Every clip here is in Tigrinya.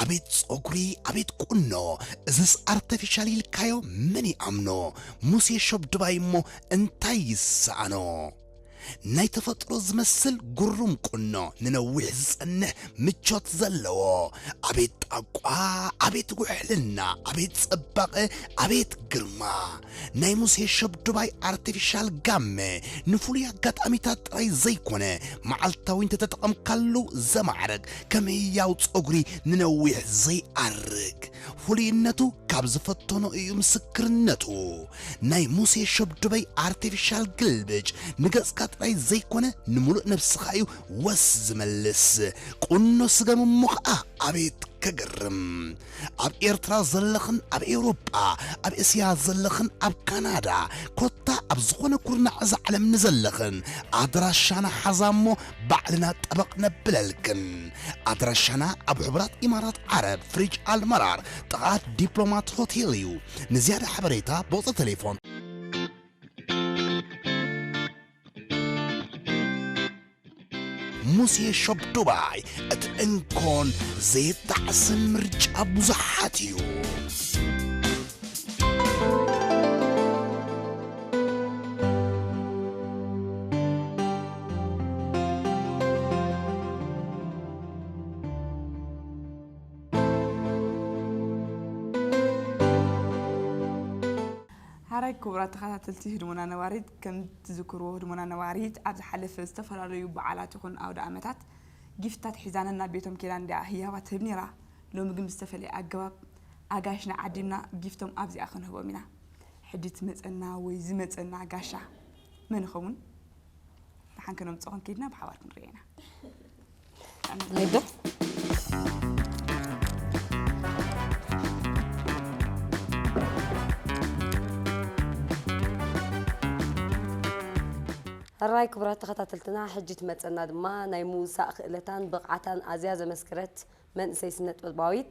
ኣቤት ፀጉሪ ኣቤት ቁኖ እዝስ ኣርተፊሻል ኢልካዮ መን ይኣምኖ ሙሴ ሾብ ድባይ እሞ እንታይ ይሰኣኖ ናይ ተፈጥሮ ዝመስል ጉሩም ቁኖ ንነዊሕ ዝጸንሕ ምቾት ዘለዎ ኣቤት ጣቋ ኣቤት ውሕልና ኣቤት ጸባቐ ኣቤት ግርማ ናይ ሙሴ ሸብዱባይ ኣርቲፊሻል ጋመ ንፍሉይ ኣጋጣሚታት ጥራይ ዘይኮነ መዓልታዊ እንተተጠቐምካሉ ዘማዕረግ ከም ህያው ጸጉሪ ንነዊሕ ዘይኣርግ ፍሉይነቱ ካብ ዝፈተኖ እዩ ምስክርነቱ ናይ ሙሴ ሸብዱበይ ኣርቲፊሻል ግልብጭ ንገጽካ ጥራይ ዘይኮነ ንምሉእ ነብስኻ እዩ ወስ ዝመልስ ቁኖ ስገም እሞ ኸኣ ኣቤት ከገርም ኣብ ኤርትራ ዘለኽን ኣብ ኤውሮጳ ኣብ እስያ ዘለኽን ኣብ ካናዳ ኮታ ኣብ ዝኾነ ኩርናዕ እዛ ዓለም ንዘለኽን ኣድራሻና ሓዛ እሞ ባዕልና ጠበቕ ነብለልክን። ኣድራሻና ኣብ ሕቡራት ኢማራት ዓረብ ፍሪጅ ኣል መራር ጥቓ ዲፕሎማት ሆቴል እዩ። ንዝያዳ ሓበሬታ ብቑጽሪ ተሌፎን። ሙሴ ሾፕ ዱባይ እቲ እንኮን ዘየጣዕስን ምርጫ ብዙሓት እዩ። ሐራይ ክቡራት ተኸታተልቲ ህድሞና ነባሪት ከምቲ ትዝክርዎ ህድሞና ነባሪት ኣብ ዝሓለፈ ዝተፈላለዩ በዓላት ይኹን ኣውደኣመታት ጊፍትታት ሒዛ ነናብ ቤቶም ኬዳ እንዲያ ህያባት ትህብ ነይራ። ሎሚ ግን ብዝተፈለየ ኣገባብ ኣጋይሽና ዓዲምና ጊፍቶም ኣብዚኣ ክንህቦም ኢና። ሕጂ ትመጸና ወይ ዝመጸና ጋሻ መን ይኸውን? ደሓን ከነምፅኦ ክንከይድና ብሓባር ክንሪኦ ኢና ንዶ ሕራይ ክቡራት ተኸታተልትና ሕጂ ትመፀና ድማ ናይ ምውሳእ ክእለታን ብቕዓታን ኣዝያ ዘመስከረት መንእሰይ ስነጥበባዊት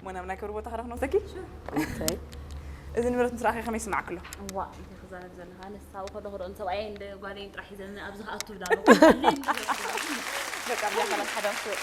እሞ ናብ ናይ ክብሪ ቦታኺ ዶ ክንወስደኪ? እንታይ? እዚ ንብረት ምስ ረኣኺ ከመይ ይስምዓኪ ኣሎ? እዋእ እንታይ ክዛረብ ዘለካ ኣነስ ኣብኡ ከለኹ ዶ ንሰብኣየይን ጓለይን ጥራሕ ሒዘኒ ኣብዚ ክኣቱ እብላ ኣለኹ በቃ ኣብዚኣ ሰላም ሓዳር ክትወፂ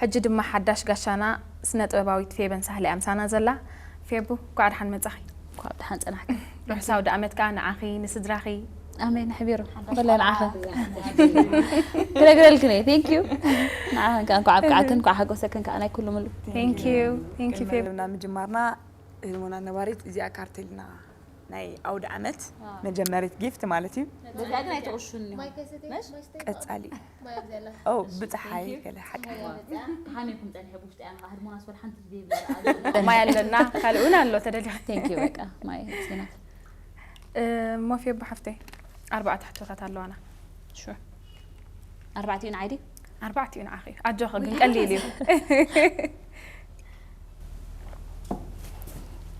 ሕጂ ድማ ሓዳሽ ጋሻና ስነ ጥበባዊት ፌበን ሳህለ እያ ምሳና ዘላ። ፌቡ እንኳዕ ደሓን መጻኺ። እንኳዕ ብደሓን ጸናሕኪ። ርሑስ ኣውደኣመት ከኣ ንዓኺ ንስድራኺ። ኣሜን ኣሕቢሩ ብፍላይ ንዓኺ ክነግረልክን እየ ቴንክ ዩ ንዓኺን ከዓ እንኳዕ ኣብቅዓክን እንኳዕ ሓጎሰክን ከዓ ናይ ኩሉ ምሉ ክንመልምና ምጅማርና ህልሞና ነባሪት እዚኣ ካርቴልና ናይ ኣውደ ዓመት መጀመሪት ጊፍት ማለት እዩ ቀፃሊ ብፀሓይ ገለ ማይ ኣለና ካልእ እውን ኣሎ ሞፌ ኣቦ ሓፍተይ ኣርባዕተ ሕቶታት ኣለዋና ኣርባዕቲኡ ንዓይ ኣርባዕቲኡ ንዓኺ እዩ ኣጆኺ ግን ቀሊል እዩ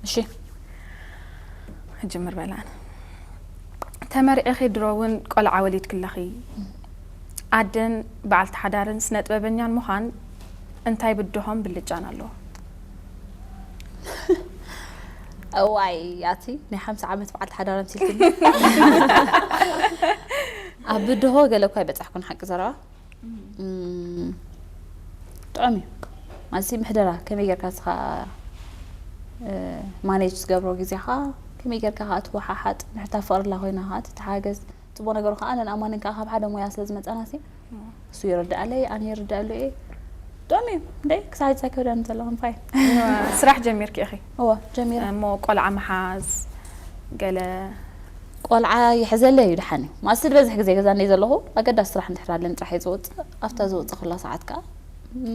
እሺ እጅምር በላን ተመርዒኺ ድሮ እውን ቆልዓ ወሊድ ክለኺ ኣደን በዓልቲ ሓዳርን ስነ ጥበበኛን ምዃን እንታይ ብድሆም ብልጫን ኣለዎ እዋይ ኣቲ ናይ ሓምሳ ዓመት በዓልቲ ሓዳር ኣምሲልክኒ ኣብ ብድሆ ገለ እኳ ኣይበጻሕኩን ሓቂ ዘረባ ጥዑም እዩ ማለት ምሕደራ ከመይ ጌርካ ስኻ ማኔጅ ዝገብሮ ግዜኻ ከመይ ጌርካ ከዓ ትወሓሓጥ ንሕታ ፍቕርላ ኮይና ከዓ ትተሓገዝ ፅቡቅ ነገሩ ከዓ ነን ኣማንን ከዓ ካብ ሓደ ሞያ ስለ ዝመፃና ሲ እሱ ይርዳኣለይ ኣነ ይርዳኣሉ እየ ጥዑም እዩ እንደ ክሳዕ ፀከብዳን ዘለኹም ፋይ ስራሕ ጀሚርኪ ኢኺ እወ ጀሚረ። እሞ ቆልዓ ምሓዝ ገለ። ቆልዓ ይሕዘለይ እዩ ደሓን እዩ። መኣስ ዝበዝሕ ግዜ ገዛ እንድየ ዘለኹ ኣገዳሲ ስራሕ እንድሕር ኣለኒ ጥራሕ እየ ዝወጽእ። ኣብታ ዝወጸኹላ ሰዓት ከኣ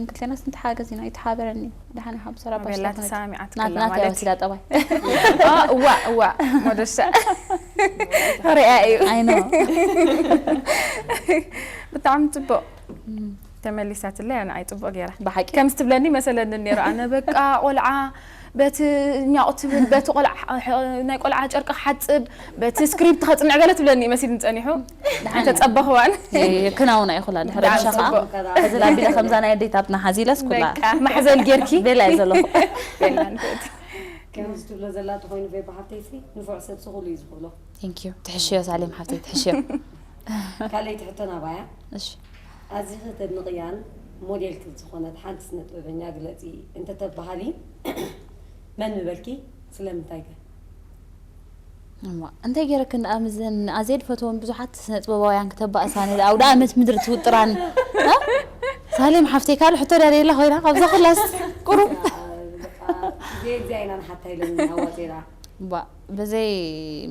ክልቴናስ ንተሓጋገዝ ኢና። ይተሓባበረኒ ደሓን ይሓብስ ሰራ ባሽ ኣቤላ ስለዝኾነት። ተሰማሚዓት ናት ከላ ናት እያ ማለት ወሲዳ ጠባይ። ኦ እዋእ እዋእ ሞዶሻ ርእያ እዩ። ኣይ ኖ። ብጣዕሚ ጽቡቕ። ተመሊሳትለይ ኣነ ኣይ ጽቡቅ ጌራ ብሓቂ ከምዚ ትብለኒ መሰለኒ ኔሩ ኣነ በቃ ቆልዓ በቲ ኛቁ ትብል በቲ ቆልዓ ናይ ቆልዓ ጨርቂ ክሓጽብ በቲ ስክሪፕት ከጽንዕ ገለ ትብለኒ መሲልኒ ጸኒሑ ድሓን ተጸበኽዋን ክናውን ኣይኹላ ድሕሪ ብሻ ከኣ እዚ ላቢለ ከምዛ ናይ ኣዴታትና ሓዚለስ ኩላ ማሕዘል ጌርኪ ቤላ እዩ ዘለኹ ቤላ ንፍእቲ ከምዚ ትብሎ ዘላ ተኾይኑ ፌባ ሓፍተይሲ ንፉዕ ሰብ ስኹሉ እዩ ዝኽእሎ ቴንክ ዩ ትሕሽዮ ሳሌም ሓፍተይ ትሕሽዮ ካልኣይቲ ሕቶ ናባያ እሺ ኣዚኺ ተድንቕያን ሞዴልኪ ዝኾነት ሓንቲ ስነጥበበኛ ግለጺ እንተተብሃሊ መን ምበልኪ? ስለምንታይከ? እዋእ እንታይ ገይረክን ደኣ ምስዘን ንኣዜድ ፈትወን ብዙሓት ስነ ጥበባውያን ክተባእሳ ነዚ ኣውደኣመት ምድሪ ትውጥራን ሳሌም ሓፍተይ ካልእ ሕቶ ድያ ደላ ኮይና ካብዛ ኩላስ ቁሩብ ጌጋ ኢና ንሓታ ኢለን ኣዋፂራ እባ ብዘይ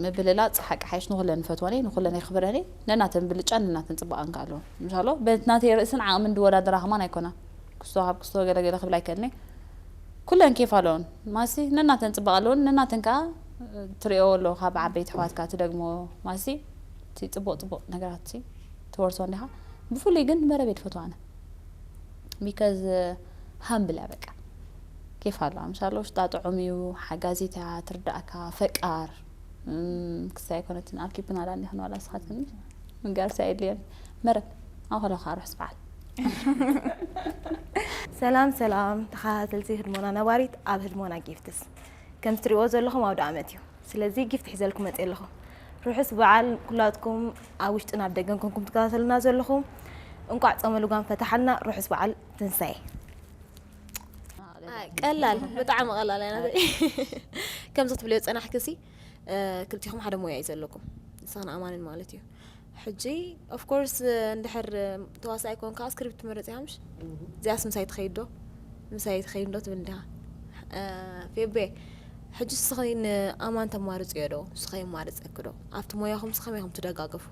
ምብልላጽ ሓቂ ሓይሽ ንኹለን ንፈትወን እየ ንኹለን የኽብረን እየ ነናተን ብልጫን ነናተን ጽባቐን ከኣ ኣለወን እንሻሎ በት ናተይ ርእስን ዓቕምን ድወዳደራ ከማን ኣይኮና ክስቶ ካብ ክስቶ ገለ ገለ ክብል ኣይክእልን እየ ኩለን ኬፍ ኣለወን ማሲ ነናተን ጽባቐ ኣለወን ነናተን ከኣ ትርእዮ ኣሎ ካብ ዓበይቲ ኣሕዋትካ ትደግሞ ማሲ እቲ ጽቡቕ ጽቡቕ ነገራት ትወርሶ እንዲኻ ብፍሉይ ግን መረብ እየ ድፈትዋ ኣነ ቢከዝ ሃምብል እያ በቃ ኬፍ ኣለዋ ምሳለ ውሽጣ ጥዑም እዩ ሓጋዚት እያ ትርዳእካ ፈቃር ክሳ ኣይኮነትን ኣብ ኪፕና ዳኒ ክንዋላ ስኻትክኒ ምጋርሲ ኣይድልየን መረብ ኣኸለኻ ርሑስ በዓል ሰላም ሰላም ተኸታተልቲ ህድሞና ነባሪት ኣብ ህድሞና ጊፍትስ ከም ትሪእዎ ዘለኹም ኣውደ ኣመት እዩ ስለዚ ጊፍት ሒዘልኩም መፅእ ኣለኹ ርሑስ በዓል ኩላትኩም ኣብ ውሽጥን ኣብ ደገን ኮንኩም ትከታተሉና ዘለኹም እንቋዕ ጾመ ልጓም ፈታሓልና ርሑስ በዓል ትንሳኤ ቀላል ብጣዕሚ ቀላል እያ ናተይ ከምዚ ክትብልዮ ዝጸናሕኪ ሲ ክልቲኹም ሓደ ሞያ እዩ ዘለኩም ንስኽን ኣማንን ማለት እዩ ሕጂ ኦፍ ኮርስ እንድሕር ተዋሳኢ ኮንካ ስክሪፕት ትመርጽ ኢኻ ምሽ እዚኣስ ምሳይ ትኸይድ ዶ ምሳይ ትኸይድ ዶ ትብል እንዲኻ ፌቤ ሕጂ ስኺ ን ኣማን ተማርጽዮ ዶ ስከ የማርጸኪ ዶ ኣብቲ ሞያኹም ሲ ከመይ ኢኹም ትደጋገፉ።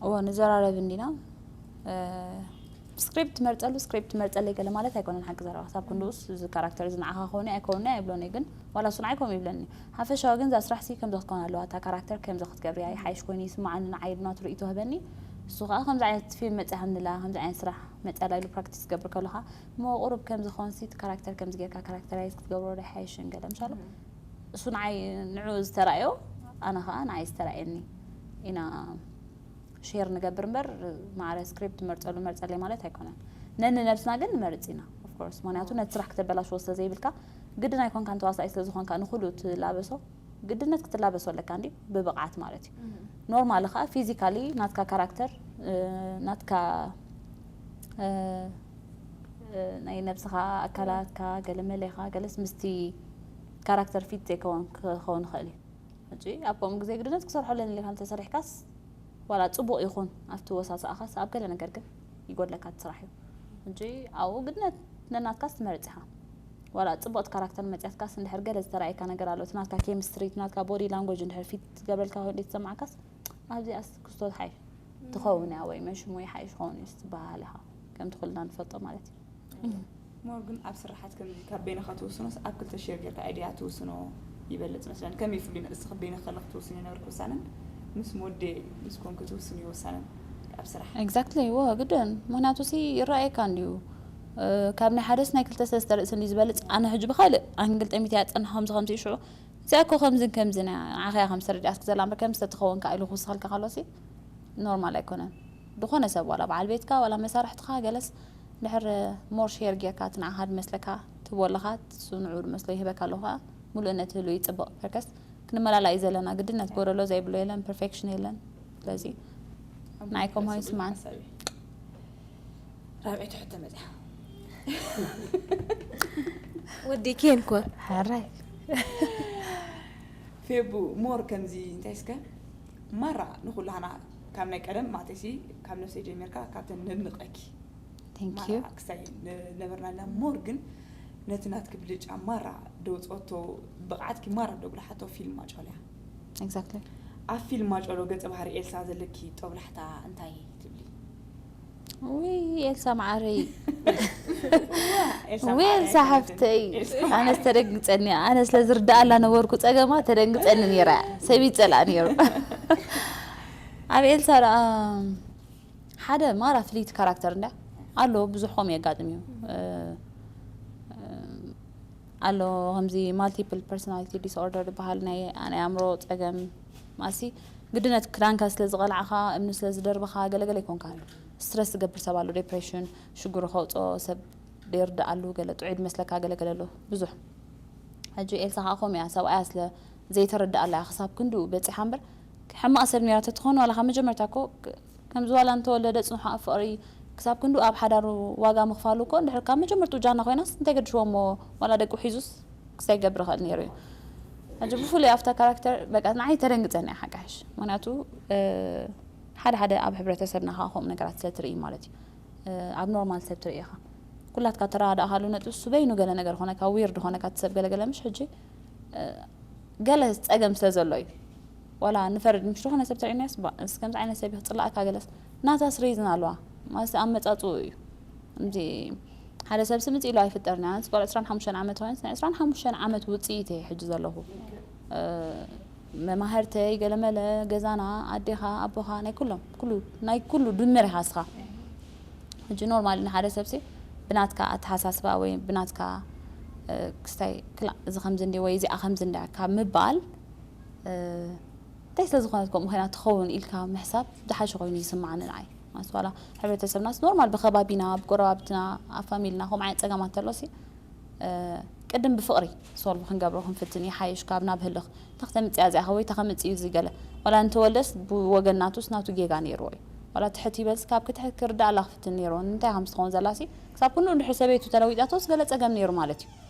እወ ንዘራረብ እንዲና ስክሪፕት ትመርጸሉ ስክሪፕት ትመርጸለይ ገለ ማለት ኣይኮነን ሓቂ ዘረባ ክሳብ ክንድኡስ እዚ ካራክተር እዚ ንዓኻ ክኸውን ኣይከውንኒ ኣይብሎን እዩ ግን ዋላ እሱ ንዓይ ከምኡ ይብለኒ ሓፈሻዊ ግን እዛ ስራሕ ሲ ከምዚ ክትከውን ኣለዋ እታ ካራክተር ከምዚ ክትገብርያ ይሓይሽ ኮይኑ ይስምዓኒ ንዓይ ኢሉ ናቱ ርእይቶ ህበኒ እሱ ከዓ ከምዚ ዓይነት ፊልም መጺኣ ከምዚ ኣለና ከምዚ ዓይነት ስራሕ መጺኣ ኣላ ኢሉ ፕራክቲስ ክገብር ከሎ ከዓ እሞ ቁሩብ ከምዚ ኮንሲ እቲ ካራክተር ከምዚ ጌርካ ካራክተራይዝ ክትገብሮ ዶ ኣይሓይሽን ገለ ምሳለ እሱ ንዓይ ንዑ ዝተራእዮ ኣነ ከዓ ንዓይ ዝተራእየኒ ኢና ሼር ንገብር እምበር ማዕረ ስክሪፕት መርፀሉ መርፀለይ ማለት ኣይኮነን ነንነብስና ግን ንመርፅ ኢና ኦፍኮርስ ምክንያቱ ነቲ ስራሕ ክተበላሽዎ ስለ ዘይብልካ ግድን ኣይኮንካን ተዋሳኣይ ስለ ዝኾንካ ንኩሉ ትላበሶ ግድነት ክትላበሶ ኣለካ እንዲ ብብቕዓት ማለት እዩ ኖርማሊ ከዓ ፊዚካሊ ናትካ ካራክተር ናትካ ናይ ነብስኻ ኣካላትካ ገለ መለኻ ገለስ ምስቲ ካራክተር ፊት ዘይከውን ክኸውን ይኽእል እዩ ሕጂ ኣብ ከምኡ ግዜ ግድነት ክሰርሖ ኣለኒ ኢልካ እንተሰሪሕካስ ዋላ ጽቡቕ ይኹን ኣብቲ ወሳስኣኻስ ኣብ ገለ ነገር ግን ይጎድለካ እቲ ስራሕ እዩ ሕጂ ኣብኡ ግድነት ነናትካስ ትመርጽ ኢኻ ዋላ ጽቡቕቲ ካራክተር መጽያትካስ እንድሕር ገለ ዝተረኣየካ ነገር ኣሎ እቲ ናትካ ኬሚስትሪ እቲ ናትካ ቦዲ ላንጎጅ እንድሕር ፊት ዝገብረልካ ኮይኑ ተሰማዕካስ ኣብዚኣስ ክስቶት ሓይ ትኸውን እያ ወይ መሽሙ ይሓይሽ ኸውን እዩ ዝበሃል ኢኻ ከምቲ ኩልና ንፈልጦ ማለት እዩ ሞር ግን ኣብ ስራሓት ከምዚ ካብ በይንኻ ትውስኖስ ኣብ ክልተ ሼር ጌርካ ኣይዲያ ትውስኖ ይበልፅ መስለን ከመይ ይፍሉ ንእስኺ በይንኺ ከለኺ ትውስኒ ነበርክ ውሳነን ምስ ሞዴ ምስ ኮንኪ ትውስኒ ውሳነን ኣብ ስራሕ ኤግዛክትሊ ወ ግድን ምክንያቱ ሲ ይረኣየካ እንድዩ ካብ ናይ ሓደስ ናይ ክልተ ሰለስተ ርእሲ እንዲ ዝበልፅ ኣነ ሕጂ ብካልእ ኣንግል ጠሚተ ያፀናኸምዚ ከምዚ ሽዑ እዚኣ እኮ ከምዝን ከምዝን እያ ንዓኻ እያ ከም ዝተረድኣት ክዘላ እምበር ከም ዝተተኸወንካ ኢሉ ክውስኸልካ ከሎሲ ኖርማል ኣይኮነን ዝኾነ ሰብ ዋላ በዓል ቤትካ ዋላ መሳርሕትኻ ገለስ ድሕር ሞር ሼር ጌርካ እቲ ንዓኻ ድመስለካ ትህቦ ኣለኻ ንሱ ንዕኡ ድመስሎ ይህበካ ኣሎ ከኣ ምሉእነት ህልው ይጽብቕ በርከስ ክንመላላእ እዩ ዘለና ግድነት ጎደሎ ዘይብሎ የለን ፐርፌክሽን የለን ስለዚ ናይ ኮማዊ ስማን ራብዒ ትሕቶ መፅያ ወዲ ኬን ኮ ሓራይ ፌቡ ሞር ከምዚ እንታይ እስከ ማራ ንኩላህና ካብ ናይ ቀደም ማተሲ ካብ ነፍሰ ጀሚርካ ካብተን ነድንቀኪ ማራ ክሳይ ነበርና ኣለና ሞር ግን ነቲ ናትኪ ብልጫ ማራ ደውፀቶ ብቕዓትኪ ማራ ደጉላሓቶ ፊልም ማጫልያ Exactly። ኣብ ፊልም ማጨሎ ገጸ ባህሪ ኤልሳ ዘለኪ ጦብላሕታ እንታይ ትብሊ? ውይ ኤልሳ መዓረይ ወይ ኤልሳ ሓፍተይ ኣነስ ተደንግፀኒ ኣነ ስለ ዝርዳኣላ ነበርኩ ፀገማ ተደንግፀኒ ነይራ ሰብ ይፀላእ ነይሩ ኣብ ኤልሳ ደኣ ሓደ ማራ ፍልይቲ ካራክተር እንዳ ኣሎ ብዙሕ ከምኡ የጋጥም እዩ ኣሎ ከምዚ ማልቲፕል ፐርሰናሊቲ ዲስኦርደር ዝበሃል ናይ ናይ ኣእምሮ ጸገም ማእሲ ግድነት ክዳንካ ስለ ዝቐላዕኻ እምኒ ስለ ዝደርብኻ ገለገለ ኣይኮንካን ስትረስ ዝገብር ሰብ ኣሎ ዴፕሬሽን ሽግሩ ከውጽኦ ሰብ ደይርድኣሉ ገለ ጥዑይ ድመስለካ ገለገለ ኣሎ ብዙሕ ሕጂ ኤልሳ ከዓ ከምኡ እያ ሰብኣያ ስለ ዘይተረድኣላ እያ ክሳብ ክንድኡ በጺሓ እምበር ሕማቕ ሰብ ነይራ ተትኾን ዋላ ካብ መጀመርታ እኮ ከምዚ ዋላ እንተወለደ ጽንሑ ኣብ ፍቅሪ ክሳብ ክንድኡ ኣብ ሓዳሩ ዋጋ ምኽፋሉ እኮ እንድሕር ካብ መጀመርትኡ ጃና ኮይናስ እንታይ ገድፍዎ እሞ ዋላ ደቁ ሒዙስ ክስታይ ክገብር ይኽእል ኔሩ እዩ ሕጂ ብፍሉይ ኣብታ ካራክተር በቃ ንዓይ ተደንግጸኒ እያ ሓቂ ሓሽ ምክንያቱ ሓደ ሓደ ኣብ ሕብረተሰብና ከኣ ከምኡ ነገራት ስለ ትርኢ ማለት እዩ ኣብ ኖርማል ሰብ ትርኢ ኢኻ ኩላትካ ተረዳእካሉ ነጥቢ እሱ በይኑ ገለ ነገር ኮነካ ዊርድ ኮነካ ትሰብ ገለ ገለ ምሽ ሕጂ ገለ ጸገም ስለ ዘሎ እዩ ዋላ ንፈርድ ምሽ ዝኾነ ሰብ ትሪእናዮስ ባእ እዚ ከምዚ ዓይነት ሰብ ክጽላኣካ ገለስ ናታስ ሪዝን ኣለዋ ማለት ኣመጻጽኡ እዩ እምዚ ሓደ ሰብ ስምጽ ኢሉ ኣይፍጠርን ኣነ ስጓል 25 ዓመት ኮይንስ ናይ 25 ዓመት ውጽኢት እየ ሕጂ ዘለኹ መማህርተይ ገለመለ ገዛና ኣዴኻ ኣቦኻ ናይ ኩሎም ኩሉ ናይ ኩሉ ድምር ኢኻ እስኻ ሕጂ ኖርማሊ ንሓደ ሰብሲ ብናትካ ኣተሓሳስባ ወይ ብናትካ ክስታይ ክላ እዚ ከምዚ እንዲ ወይ እዚኣ ከምዚ እንዳ ካብ ምባል እንታይ ስለ ዝኾነት ከምኡ ኮይና ትኸውን ኢልካ ምሕሳብ ዝሓሸ ኮይኑ ይስማዓኒ ንዓይ ማለት ዋላ ሕብረተሰብናስ ኖርማል ብከባቢና ብጎረባብትና ኣብ ፋሚልና ከምኡ ዓይነት ፀገማት ተሎሲ ቅድም ብፍቕሪ ሶልቭ ክንገብሮ ክንፍትን ይሓይሽ ካብ ናብ ህልኽ ተክተምፅያ እዚኣ ወይ ተኸምፅ እዩ እዚ ገለ ዋላ እንተወልደስ ብወገን ናቱስ ናቱ ጌጋ ነይርዎ እዩ ዋላ ትሕት ይበልስ ካብ ክትሕ ክርዳእ ኣላ ክፍትን ነይርዎ እንታይ ከም ስትኸውን ዘላሲ ክሳብ ክንኡ ድሕሪ ሰበይቱ ተለዊጣቶስ ገለ ፀገም ነይሩ ማለት እዩ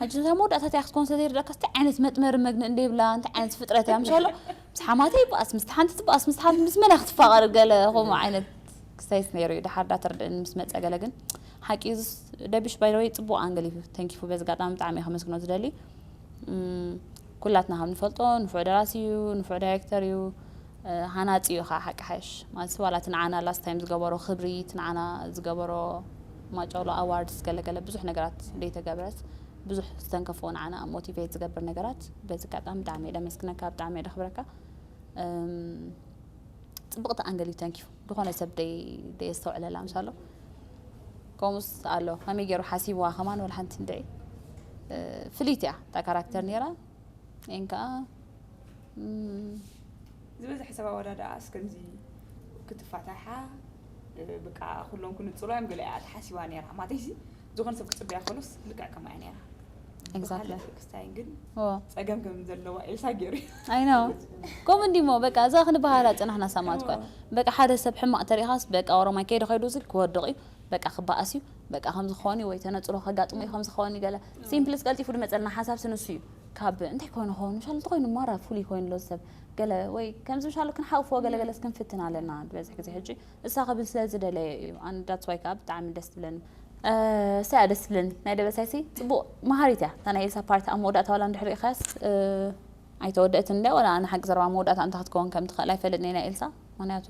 ሕጂ እታ መወዳእታ እቲኣ ክትኮን ስለ ዘይርድኣካስ እንታይ ዓይነት መጥመሪ መግኒ እንደ ይብላ እንታይ ዓይነት ፍጥረት እያ ምሻሎ ምስ ሓማተ ይበኣስ ምስቲ ሓንቲ ትበኣስ ምስ ሓንቲ ምስ መና ክትፋቐር ገለ ከምኡ ዓይነት ክስተይት ነይሩ እዩ ድሓር ዳተረድእኒ ምስ መፀ ገለ ግን ሓቂ እዩ ደብሽ ባይደወይ ፅቡቕ ኣንገል እዩ ተንኪፉ በዚ ኣጋጣሚ ብጣዕሚ እየ ከመስግኖ ዝደሊ ኩላትና ከም ንፈልጦ ንፉዕ ደራሲ እዩ ንፉዕ ዳይረክተር እዩ ሃናጺ እዩ ከኣ ሓቂ ሓሽ ማለት ዋላ እቲ ንዓና ላስት ታይም ዝገበሮ ክብሪ እቲ ንዓና ዝገበሮ ማጨሎ ኣዋርድስ ገለገለ ብዙሕ ነገራት ዘይተገብረስ ብዙሕ ዝተንከፎ ንዓና ሞቲቬት ዝገብር ነገራት በዚ ኣጋጣሚ ብጣዕሚ እየ ደመስግነካ ብጣዕሚ እየ ደኽብረካ ጽብቕቲ ኣንገል እዩ ተንኪዩ ዝኾነ ሰብ ደየስተውዕለላ ምሳሎ ከምኡስ ኣሎ ከመይ ገይሩ ሓሲብዋ ከማን ወላ ሓንቲ እንድዒ ፍልይቲ እያ እታ ካራክተር ነይራ ን ከዓ ዝበዝሐ ሰብ ኣወዳድኣስ ከምዚ ክትፋታሓ ብቃ ኩሎም ክንፅሉ እዮም ገለ እያ ተሓሲባ ነይራ ማለተይሲ ዝኾነ ሰብ ክፅበያ ከሎስ ልክዕ ከምኣ እያ ነይራ ኤግዛክትሊ ብካልእ ክስታይን ግን ኦ ጸገም ከም ዘለዋ ኤልሳ ገይሩ እዩ። ኣይ ነው ከምኡ እንዲሞ በቃ እዛ ክንበሃላ ጽናሕና ሰማዕት እኮ እያ እዎ። በቃ ሓደ ሰብ ሕማቕ ተሪእኻስ በቃ ኦሮማይ ከይዱ ከይዱ ዝብል ክወድቕ እዩ በቃ ክበኣስ እዩ በቃ ከምዚ ክኸውን እዩ ወይ ተነጽሎ ከጋጥሞ እዩ ከምዚ ክኸውን እዩ ገለ ሲምፕልስ ቀልጢፉ ዝመጸልና ሓሳብሲ ንሱ እዩ ካብ እንታይ ኮይኑ ክኸውን ምሻል እንተኾይኑ ማራ ፍሉይ ኮይኑ ኣሎ ሰብ ገለ ወይ ከምዚ ምሻሉ ክንሓቑፎ ገለ ገለስ ክንፍትን ኣለና ዝበዝሕ ግዜ ሕጂ እሳ ክብል ስለ ዝደለየ እዩ ኣነ ዳትስ ዋይ ከኣ ብጣዕሚ ደስ ትብለኒ። እሳ እያ ደስ ትብለኒ ናይ ደበሳይሲ ጽቡቅ መሃሪት እያ እታ ናይ ኤልሳ ፓርት ኣብ መወዳእታ ዋላ እንድሕር ሪኢኻያስ ኣይተወደእትን እንድያ ዋላ ኣነ ሓቂ ዘረባ መወዳእታ እንታይ ክትከውን ከም ትኽእል ኣይፈልጥን እየ ናይ ኤልሳ ምኽንያቱ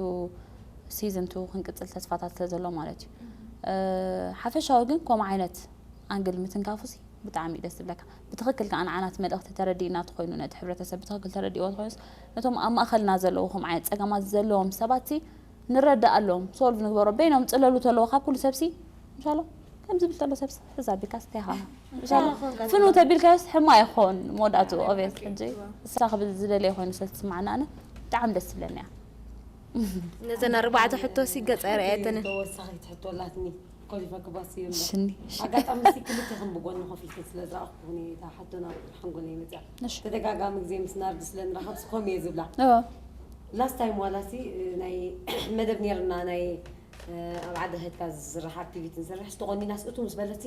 ሲዝን ቱ ክንቅጽል ተስፋታት ስለ ዘሎ ማለት እዩ ሓፈሻዊ ግን ከምኡ ዓይነት ኣንግል ምትንካፉሲ ብጣዕሚ ደስ ዝብለካ ብትኽክል ከዓ ንዓናት መልእኽቲ ተረዲእና ተኮይኑ ነቲ ሕብረተሰብ ብትኽክል ተረዲእዎ ተኮይኑስ ነቶም ኣብ ማእኸልና ዘለዉ ከምኡ ዓይነት ፀገማት ዘለዎም ሰባትሲ ንረዳኣሎም ሶልቭ ንግበሮ በይኖም ፅለሉ ተለዎ ካብ ኩሉ ሰብሲ ምሻሎ ከም ዝብል ተሎ ሰብሲ ሕዛ ኣቢልካስ እንታይ ይኸውን ምሻሎ ፍኑ ተቢልካዮስ ሕማቅ ይኸውን መወዳእትኡ ኦብየስ ሕጂ እሳ ክብል ዝደለየ ኮይኑ ስለዝትስማዓኒ ኣነ ብጣዕሚ ደስ ትብለኒ እያ ነዘን ኣርባዕተ ሕቶሲ ገፀ ርኣየተንን ተወሳኺት ሕቶ ኣላትኒ ኮሊፈ ክባሲ እየ እምበር ሽኒ ኣጋጣሚ እስቲ ክልቴኽን ብጎኒ ኮፍ ኢልክን ስለ ዝረኣኹኩን እየ እታ ሕቶ ናብ ሓንጎለይ መፂኣ እሺ ተደጋጋሚ ግዜ ምስ ናርዲ ስለ ንራኸብስ ከምኡ እየ ዝብላ ኦ ላስት ታይም ዋላሲ ናይ መደብ ነይርና ናይ እ፣ ኣብ ዓዲ ሀድካ ዝስራሕ ኣክቲቪቲ ንሰርሕስ ተቖኒናስ እቱ ምስ በለትሲ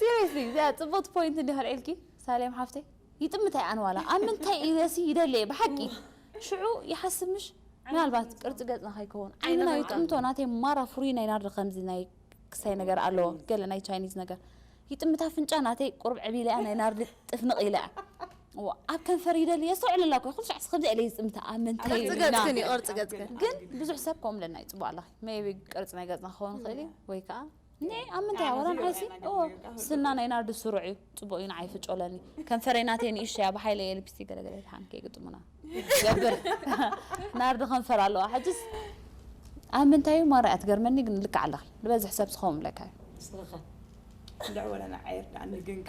Seriously እዚኣ ጽብቕቲ ፖይንት እንድያ ከልዕልኪ ሳሌም ሓፍተይ ይጥምት ኣይ ኣነ ዋላ ኣብ ምንታይ ኢለሲ ይደሊ እየ ብሓቂ ሽዑ ይሓስብ ምሽ ምናልባት ቅርጺ ገጽና ከይከውን ዓይንና ይጥምቶ ናተይ ማራ ፍሩይ ናይ ናርዲ ከምዚ ናይ ክሳይ ነገር ኣለዎ ገለ ናይ ቻይኒዝ ነገር ይጥምት ኣፍንጫ ናተይ ቁርብ ዕብ ኢለ እያ ናይ ናርዲ ጥፍንቕ ኢለ እያ ኣብ ከንፈር ይደሊ የስተውዕለላ እኮ ኩሉ ሻዕሲ ከምዚ ኢለ ዝጥምታ ኣብ ምንታይ ቅርጺ ኢልና ገጽክን እዩ ቅርጺ ገጽክን ግን ብዙሕ ሰብ ከምኡ ኢለና ይጽቡቕ ኣለኺ ሜቢ ቅርጺ ናይ ገጽና ክኸውን ይኽእል እዩ ወይ ከዓ ን ኣብ ምንታይ እያ ወላ ንዓይሲ እዎ ስና ናይ ናርዲ ስሩዕ እዩ ጽቡቅ እዩ ንዓይ ፍጮለኒ ከንፈረይ ናተይ ንእሽቶ እያ ብሓይለ እየ ልፕስቲክ ገለገለ ይትሓን ከይግጥሙና ገብር ናርዲ ከንፈር ኣለዋ ሕጅስ ኣብ ምንታይ እዩ ማራ እያ ትገርመኒ ግን ልክዕ ኣለኺ ንበዝሕ ሰብ ዝኸውን ብለካ እዩ ንስኻ ልዕወለና ዓይር ዳኣ ንግንከ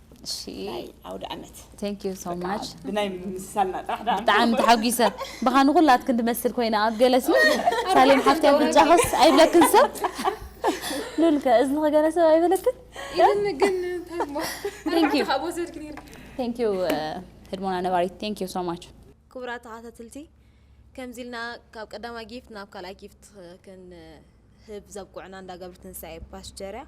ናይ ዓውደ ዓመት ብናይ ምምስሳልና ጥራሕ ብጣዕሚ ተሓጒሰ ብኻ ንኹላትክን ትመስል ኮይና ኣብ ገለሲ ሳሌም ሓፍቲ ኣፍንጫኸስ ኣይብለክን ሰብ ሉልከ እዝንኸ ገለ ሰብ ኣይበለክን ቴንኪዩ ህድሞና ነባሪት ቴንኪዩ ሶ ማች ክቡራት ተኸታተልቲ ከምዚ ኢልና ካብ ቀዳማይ ጊፍት ናብ ካልኣይ ጊፍት ህብ ዘብቁዕና እንዳ ገብርትንሳኤ ፓስቸርያ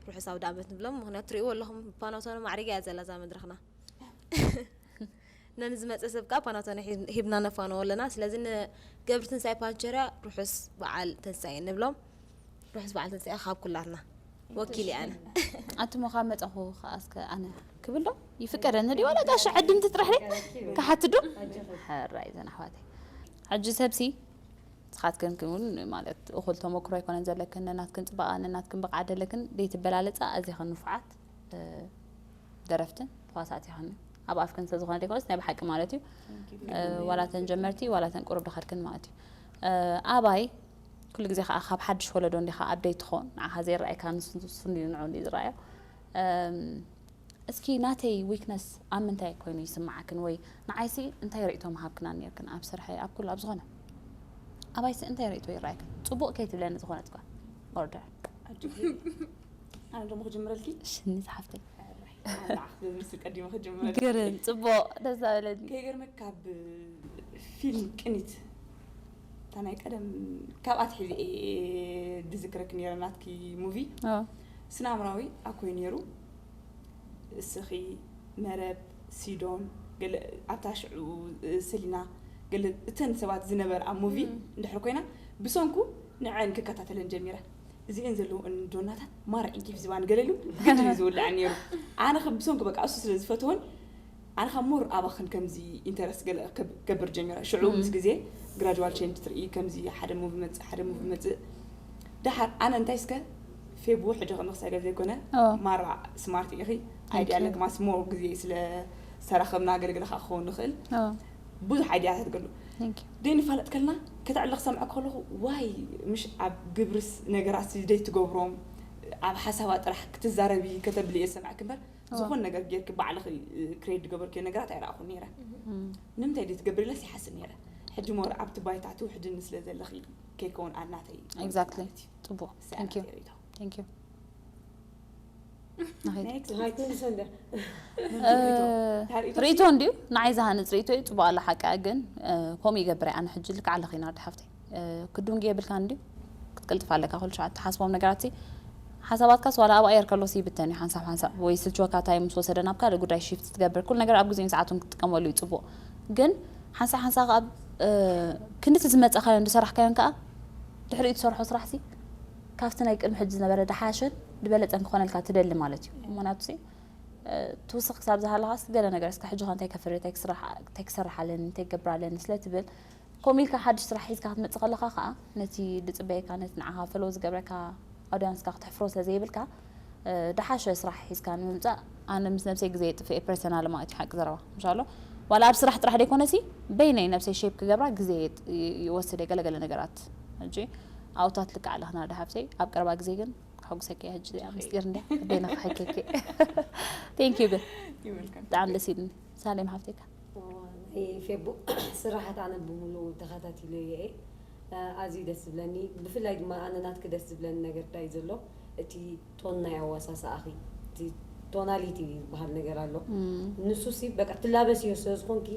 ርሑስ ኣውዳመት ንብሎም ምክንያቱ ትሪእዎ ኣለኹም ፓናቶነ ማዕሪጋ እያ ዘላ እዛ መድረኽና ነንዝመፀ ሰብ ከዓ ፓናቶነ ሂብና ነፋንዎ ኣለና ስለዚ ንገብርትንሳኤ ፓንቸርያ ርሑስ በዓል ትንሳኤ ንብሎም ርሑስ በዓል ትንሳኤ ካብ ኩላትና ወኪል እየ ኣነ ኣቱሞ ካብ መፀኹ ከዓ እስከ ኣነ ክብል ዶ ይፍቀደኒ ዲ ዋላ ጋሻ ዕድምቲ ጥራሕ ደ ክሓትዶ ሕራይ ዘን ኣሕዋተይ ሕጂ ሰብሲ ንስኻትክን እውን ማለት እኹል ተሞክሮ ኣይኮነን ዘለክን ነናትክን ፅባቐ ነናትክን ብቕዓት ዘለክን ዘይትበላለፃ ኣዚኽን ንፉዓት ደረፍትን ተዋሳእቲ ይኸን ኣብ ኣፍክን ስለዝኾነ ዘይኮነስ ናይ ብሓቂ ማለት እዩ ዋላተን ጀመርቲ ዋላተን ቁሩብ ድኸድክን ማለት እዩ ኣባይ ኩሉ ግዜ ከዓ ካብ ሓድሽ ወለዶ እንዲኻ ኣብደይ ትኾን ንዓኻ ዘይረኣይካ ንሱ ንዑ ዝረኣዮ እስኪ ናተይ weakness ኣብ ምንታይ ኮይኑ ይስምዓክን ወይ ንዓይሲ እንታይ ሪእቶ ምሃብክናን ኔርክን ኣብ ስርሐይ ኣብ ኩሉ ኣብ ዝኮነ ኣባይሲ እንታይ ሪእቶ ይራኣየክን ጽቡቅ ከይትብለኒ ዝኮነት ጋል order ኣነ ደሞ ክጅምረልኪ ሽኒ ዝሓፍተይ ግርም ጽቡቅ ደስ ዛበለኒ ከይገርመክ ካብ ፊልም ቅኒት እታ ናይ ቀደም ካብ ኣትሒዘ እየ ድዝክረክ ነይረ ናትኪ ሙቪ ስነ ኣምራዊ ኣኮይ ነይሩ እስኺ መረብ ሲዶን ገለ ኣብታ ሽዑ ሰሊና ገለ እተን ሰባት ዝነበራ ኣብ ሙቪ እንድሕር ኮይና ብሰንኩ ንዐን ክከታተለን ጀሚረ እዚኤን ዘለውእን ዶናታት ማራ ዒንኪፍ ዝባን ገለሉ ግድን ዝውልዐን ነይሩ ኣነ ከም ብሰንኩ በቃ እሱ ስለ ዝፈትወን ኣነ ካብ ሞር ኣባክን ከምዚ ኢንተረስት ገለ ክገብር ጀሚረ ሽዑ ምስ ግዜ ግራጅዋል ቼንጅ ትርኢ ከምዚ ሓደ ሙቪ መጽእ ሓደ ሙቪ መጽእ ደሓር ኣነ እንታይ እስከ ፌቡ ሕጂ ከም ክሳይ ገለ ዘይኮነ ማራ ስማርት ኢኺ ኣይዲያ ኣለክ ማስ ሞር ግዜ ስለ ዝተራኸብና ገለገለ ከዓ ክኸውን ንኽእል ብዙሕ ኣይዲያታት ገሉ ግን ይፋለጥ ከልና ከተዕሊ ክሰምዐ ከለኹ ዋይ ምሽ ኣብ ግብርስ ነገራት ደይ ትገብሮም ኣብ ሓሳባት ጥራሕ ክትዛረቢ ከተብሊ እየ ዝሰምዐክ እምበር ዝኾን ነገር ጌርኪ ባዕልኺ ክሬድ ዝገበርክዮ ነገራት ኣይረኣኹን ነይረ ንምንታይ ድዩ ትገብሪ ኢለስ ይሓስብ ነይረ ሕጂ ሞር ኣብቲ ባይታ ትውሕድኒ ስለ ዘለኺ ከይከውን ኣናተይ ኤግዛክትሊ ፅቡቅ ቴንኪዩ ቴንኪዩ ርእቶ እንድዩ ንዓይ ዝሃንፅ ርእቶ እዩ ፅቡቅ ኣላ ሓቂ ግን ከምኡ ይገብረ ኣነ ሕጂ ልክዕ ኣለኺ ናርዲ ሓፍተይ ክዱንጊ የብልካ እንዲ ክትቅልጥፍ ኣለካ ኩሉ ሸዓ ትሓስቦም ነገራት ሓሳባትካስ ዋላ ኣብ ኣየር ከሎሲ ይብተን እዩ ሓንሳብ ሓንሳብ ወይ ስልችወካ እንታይ ምስ ወሰደ ናብ ካልእ ጉዳይ ሽፍት ትገብር ኩሉ ነገር ኣብ ግዜን ሰዓቱን ክትጥቀመሉ እዩ ጽቡቕ ግን ሓንሳብ ሓንሳብ ኣብ ክንዲቲ ዝመጸኻዮን ዝሰራሕካዮን ከዓ ድሕሪኡ ትሰርሖ ስራሕሲ ካብቲ ናይ ቅድሚ ሕጂ ዝነበረ ድሓሸን ዝበለጸን ክኾነልካ ትደሊ ማለት እዩ ምክንያቱሲ ትውስኽ ክሳብ ዝሃለኻስ ገለ ነገር እስካ ሕጂ ኸ እንታይ ከፍሪ እንታይ ክስራሕ ኣለኒ እንታይ ክገብር ኣለኒ ስለትብል ከምኡ ኢልካ ሓድሽ ስራሕ ሒዝካ ክትመጽእ ከለኻ ከኣ ነቲ ዝጽበየካ ነቲ ንዓኻ ፈለዎ ዝገብረካ ኣውድያንስካ ክትሕፍሮ ስለ ዘይብልካ ድሓሸ ስራሕ ሒዝካ ንምምጻእ ኣነ ምስ ነብሰይ ግዜ የጥፍእ እየ ፐርሰናል ማለት እዩ ሓቂ ዘረባ ምሻሎ ዋላ ኣብ ስራሕ ጥራሕ ደይኮነሲ በይነይ ነብሰይ ሼፕ ክገብራ ግዜ ይወስድ እየ ገለገለ ነገራት ሕጂ ኣውታት ልክዕ ኣለኽና ድሓፍተይ ኣብ ቀረባ ግዜ ግን ከሐጉሰኪ እየ ሕጂ ምስጢር እንድያ በይነ ክሕከኪ ቴንክ ዩ ግን ብጣዕሚ ደስ ኢልኒ ሳሌም ሓፍተይ ከ? ናይ ፌቡክ ስራሓት ኣነ ብሙሉኡ ተካታቲለዮ እየ ኣዝዩ ደስ ዝብለኒ ብፍላይ ድማ ኣነ ናትኪ ደስ ዝብለኒ ነገር ታይ እዩ ዘሎ እቲ ቶን ናይ ኣዋሳስኣኺ እቲ ቶናሊቲ ዝባሃል ነገር ኣሎ ንሱሲ በቃ ትላበስዮ ስለ ዝኾንኪ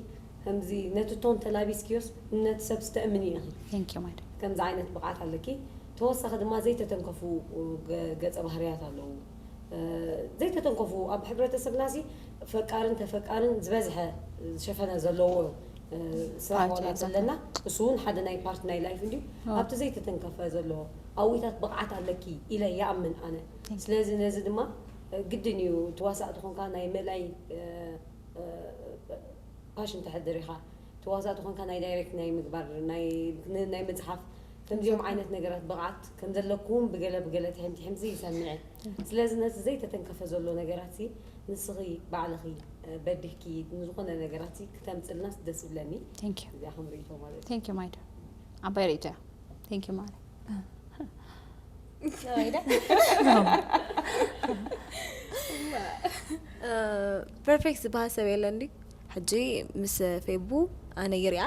ከምዚ ነቲ ቶን ተላቢስክዮስ ነቲ ሰብ ስተእምንዮ ኢኺ Thank you ማይ ዲር። ከምዚ ዓይነት ብቕዓት ኣለኪ ተወሳኺ ድማ ዘይተተንከፉ ገፀ ባህርያት ኣለዉ። ዘይተተንከፉ ኣብ ሕብረተሰብና ሲ ፈቃርን ተፈቃርን ዝበዝሐ ዝሸፈነ ዘለዎ ስራሕ ዋላ ዘለና እሱ እውን ሓደ ናይ ፓርት ናይ ላይፍ እንዲዩ ኣብቲ ዘይተተንከፈ ዘለዎ ኣዊታት ብቕዓት ኣለኪ ኢለ ይኣምን ኣነ ስለዚ ነዚ ድማ ግድን እዩ ተዋሳእ ተኾንካ ናይ መላይ ፓሽን ተሕድር ኢኻ ተዋሳእ ተኾንካ ናይ ዳይሬክት ናይ ምግባር ናይ ምፅሓፍ ከምዚኦም ዓይነት ነገራት ብቕዓት ከም ዘለክውን ብገለ ብገለ ትሕምትሕምሲ ይሰምዕ'የ። ስለዚ ነቲ ዘይተተንከፈ ዘሎ ነገራትሲ ንስኺ ባዕልኺ በዲህኪ ንዝኾነ ነገራትሲ ክተምጽልናስ ደስ ይብለኒ። Thank you። እዚኣ ከም ርእይቶ ማለት እዩ። Thank you ማይዳ ዓባይ ርእይቶ እያ። Thank you ማዓረይ። ፐርፌክት ዝበሃል ሰብ የለ እንዲ ሕጂ ምስ ፌቡ ኣነ ይሪኣ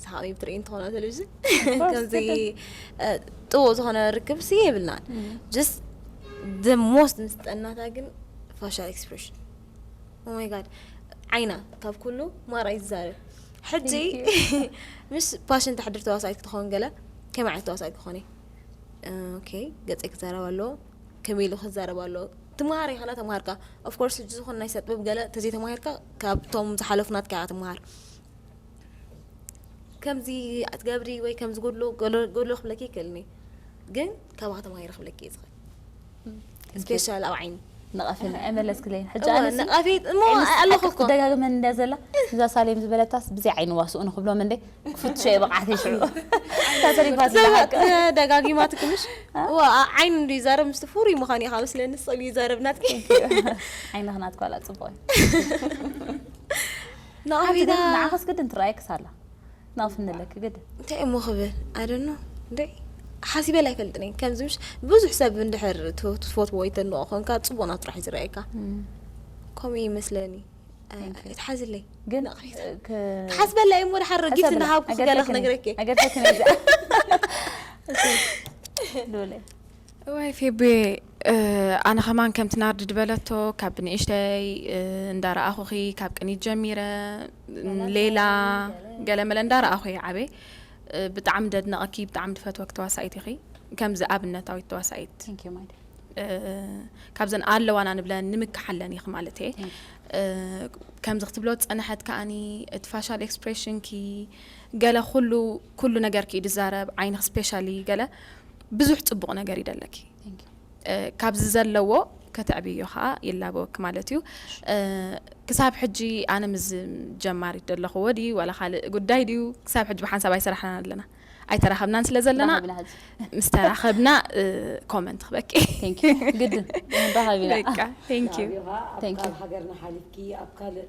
ሰሓቢ ብትርኢ እንትኾና ቴሌቭዥን ከምዚ ጥቡቅ ዝኾነ ርክብ ሲ የብልናን ጀስ ደ ሞስት ምስ ጠናታ ግን ፋሻል ኤክስፕሬሽን ኦማይ ጋድ ዓይና ካብ ኩሉ ማራይ ዝዛርብ ሕጂ ምስ ፓሽን ተሕድር ተዋሳኢት ክትኸውን ገለ ከመይ ዓይነት ተዋሳኢት ክኾን እዩ ኦኬ ገፀይ ክዛረብ ኣለዎ ከመይ ኢሉ ክዛረብ ኣለዎ ትምሃር ኢኻ ላ ተምሃርካ ኦፍኮርስ ሕጂ ዝኾነ ናይ ሰጥበብ ገለ ተዘይተማሂርካ ካብቶም ዝሓለፉ ናትካ ኢኻ ትምሃር ከምዚ ኣትገብሪ ወይ ከምዚ ጎድሎ ጎድሎ ክብለኪ ይክእልኒ ግን ካባኻ ተማሂረ ክብለኪ እየ ዝኽእል። ስፔሻል ኣብ ዓይኒ ነቐፊ ኣይመለስክለይን ሕጂ እወ ኣነሲ ነቐፊት እሞ ዓይነስ ኣለኹ ሓቂ እኮ ክትደጋግመን እንድያ ዘላ እዛ ሳሌም ዝበለታስ ብዘይ ዓይኒ ዋስኡ ንኽብሎም እንደ ክፍትሾ እየ ብቕዓተይ ሽዑ እታ ተሪፋ ዘላ ሰባት ሓቂ እ፣ ደጋጊማ ትክምሽ እወ ኣ- ዓይኒ እንዱ ይዛረብ ምስቲ ፍሩይ ምዃን እዩ ካብ ስለኒ ስእሉ ይዛረብ ናትኪ ዓይንኽ ናትኳ ኣላ ጽቡቕ እዩ ሓንቲ ግን ነቐፊታ ንዓኸስ ግድን ትረኣየክስ ኣላ ናቕፍ ንለኪ ግድ እንታይ እሞ ክብል ኣደኖ እንዴ ሓሲበል ኣይፈልጥን እየ ከምዚ ምሽ ብዙሕ ሰብ እንድሕር ትፈትዎ ወይ ተድንቆ ኮንካ ፅቡቅ ናብ ጥራሕ ዝረኣየካ ከምኡ ይመስለኒ ትሓዝለይ ግን ትሓስበላ እየ እሞ ድሓር ረጊፍ እናሃብኩ ገለ ክነግረኪ ነገርከኪ ነዛ ዶለ እዋይ ፌቡየ ኣነ ከማን ከምቲ ናርዲ ድበለቶ ካብ ብንእሽተይ እንዳረኣኹኺ ካብ ቅኒት ጀሚረ ሌላ ገለመለ እንዳረኣኹ እየ ዓበይ ብጣዕሚ ደድነቐኪ ብጣዕሚ ድፈትወኪ ተዋሳኢት ኢኺ ከምዚ ኣብነታዊት ተዋሳኢት Thank you, my dear. እ፣ ካብዘን ኣለዋና ንብለን ንምክሓለን ኢኺ ማለት እየ Thank እ፣ ከምዚ ክትብሎ ዝፀንሐት ከዓኒ እቲ ፋሻል ኤክስፕሬሽንኪ ገለ ኩሉ ኩሉ ነገርኪ እዩ ዝዛረብ ዓይንኺ ስፔሻሊ ገለ ብዙሕ ጽቡቕ ነገር ይደለኪ ካብዚ ዘለዎ ከተዕብዮ ከዓ ይላበወኪ ማለት እዩ ክሳብ ሕጂ ኣነ ምስ ጀማሪት ዘለኹዎ ድዩ ዋላ ካልእ ጉዳይ ድዩ ክሳብ ሕጂ ብሓንሳብ ኣይሰራሕናን ኣለና ኣይተራኸብናን ስለ ዘለና ምስ ተራኸብና ኮመንት ክበቂ ግድን ሃገርና ሓሊፍኪ ኣብ ካልእ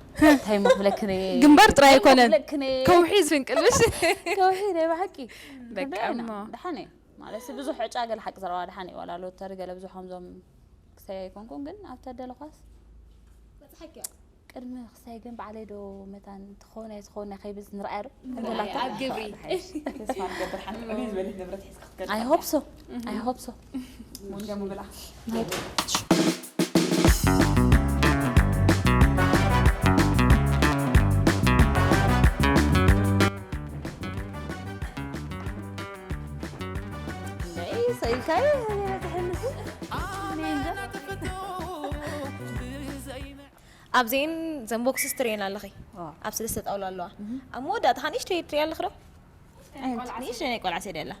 እንታይ እሞ ክብለክን እየ ግንባር ጥራይ እንታይ እሞ ኣይኮነን ክብለክን እየ ከውሒ ዝፍንቅልሽ ከውሒ ናይ ብሓቂ ደቂ ክንደይ ኢና? እሞ። ደሓን እየ ማለት ሲ ብዙሕ ዕጫ ገለ ሓቂ ዘረባ ደሓን እዩ ዋላ ሎተሪ ገለ ብዙሕ ከምዞም ክሳይ ኣይኮንኩን ግን ኣብ ተደለኳስ በጽሓኪዮ ቅድሚ ክሳይ ግን በዓለይ ዶ መታን ትኸውን ኣይ ትኸውን ከይብዝ ንርኣያ ዶ ኣብ ግብሪ ተስፋ ንገብር ሓንቲ ዕብይ ዝበለት ንብረት ሒዝካ ክትከድ ኣይ ሆፕ ሶ ኣይ ሆፕ ሶ ኣብዘን ዘን ቦክስስ ትርእየን ኣለኺ ኣብ ሰለስተ ጣውላ ኣለዋ ኣብ መወዳእታ ንእሽተይ ትርእያ ኣለኺ ዶ ንእሽተይ ናይ ቆልዓ ሰዲ ኣላ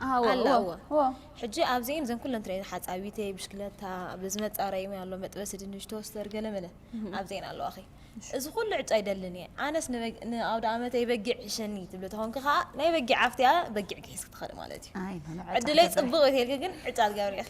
ኣዎ ኣላ እዎ እዎ። እዎ ሕጂ ኣብዚኤን እዘን ኩለን ትርእየን ሓጻዊተይ ብሽክለታ ኣብ ዝመጻረይ እውን ኣሎ መጥበሲ ድንሽ ቶስተር ገለ መለ ኣብዚኤን ኣለዋኺ እዚ ኩሉ ዕጫ ኣይደልን እየ ኣነስ ንበግ- ንኣውደኣመተይ በጊዕ ዕሸኒ ትብሊ ተኾንኪ ከዓ ናይ በጊዕ ኣፍትያ በጊዕ ግሒስኪ ትኸዲ ማለት እዩ ኣይ፣ ንዕጫ ዕድለይ ትገብሪ። ጽቡቕ እዩ ተልኪ ግን ዕጫ ትገብሪ ኢኺ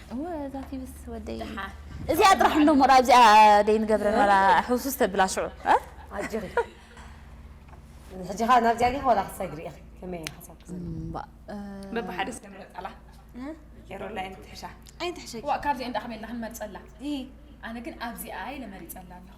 እወ እዛ ቲቪስ ወደይ እዚኣ ጥራሕ እንዶ ሞራ ኣብዚኣ ደይንገብረ ኖራ ሕውሱስ ተብላ ሽዑ ኣጆኺ ሕጂ ኸ ናብዚኣ ዲኺ ዋላ ክትሰግሪ ኢኺ ከመይ እዩ ሓሳብኪ ዘሎ እምባእ በብሓደ ስለ ምረጻላ ጌሮላ ኣይንትሕሻ ኣይንትሕሸኪ ዋእ ካብዚኣ እንዳ ከመይ ኢልና ክንመርጸላ ኣነ ግን ኣብዚኣ ኢለ መሪጸላ ኣለኹ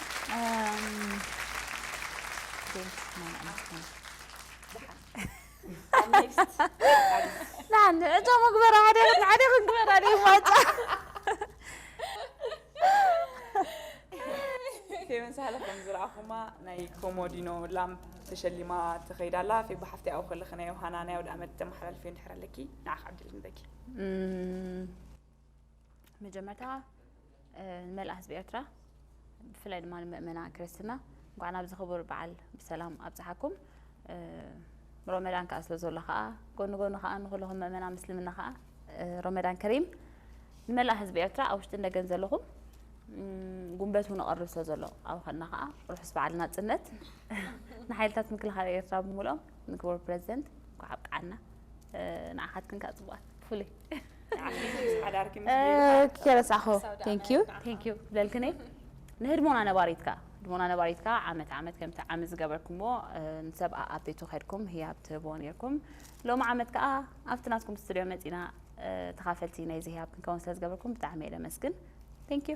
ንዓኒ ዕጫ መግበሪ ሓደ ሓደ ክንግበር ኣደ ማጫ ተመሳለ ከም ዝረኣኹማ ናይ ኮሞዲኖ ላም ተሸሊማ ተኸይዳ ኣላ ፌ ብሓፍቲ ኣብኡ ከለኺ ናይ ዮሃና ናይ ኣውደ ኣመት ተመሓላልፊ እንድሕር ኣለኪ ንዓኽ ዓድል ንበኪ መጀመርታ ንመላእ ህዝቢ ኤርትራ ብፍላይ ድማ ንምእመና ክርስትና እንኳዕ ናብዚ ክቡር በዓል ብሰላም ኣብፅሓኩም ሮመዳን ከዓ ስለ ዘሎ ከዓ ጎኒ ጎኒ ከዓ ንኩለኹም ምእመና ምስልምና ከዓ ሮመዳን ከሪም ንመላእ ህዝቢ ኤርትራ ኣብ ውሽጢ እንደገን ዘለኹም ጉንበት እውን እቐርብ ስለ ዘሎ ኣብ ኸና ከዓ ርሑስ በዓል ናፅነት ንሓይልታት ምክልኻል ኤርትራ ብምልኦም ንክቡር ፕረዚደንት እንኳዕ ኣብቅዓና ንዓኻትክን ከዓ ፅቡቓት ብፍሉይ ከረሳኹ ቴንክዩ ቴንክዩ ብለልክን እየ ንህድሞና ነባሪት ከዓ ህድሞና ነባሪት ከዓ ዓመት ዓመት ከምቲ ዓመት ዝገበርኩምዎ ንሰብ ኣብ ቤቱ ከድኩም ህያብ ትህቦ ነርኩም ሎሚ ዓመት ከዓ ኣብቲ ናትኩም ስትድዮ መፂና ተኻፈልቲ ናይዚ ህያብ ክንከውን ስለ ዝገበርኩም ብጣዕሚ እየ ለመስግን ቴንክዩ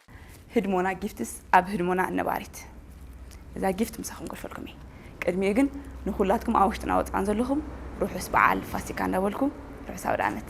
ህድሞና ጊፍትስ ኣብ ህድሞና እነባሪት እዛ ጊፍት ምሳኹም ከሕልፈልኩም እየ ቅድሚኡ ግን ንኹላትኩም ኣብ ውሽጥና ወፃን ዘለኹም ርሑስ በዓል ፋሲካ እንዳበልኩ ርሑስ ኣውደኣመት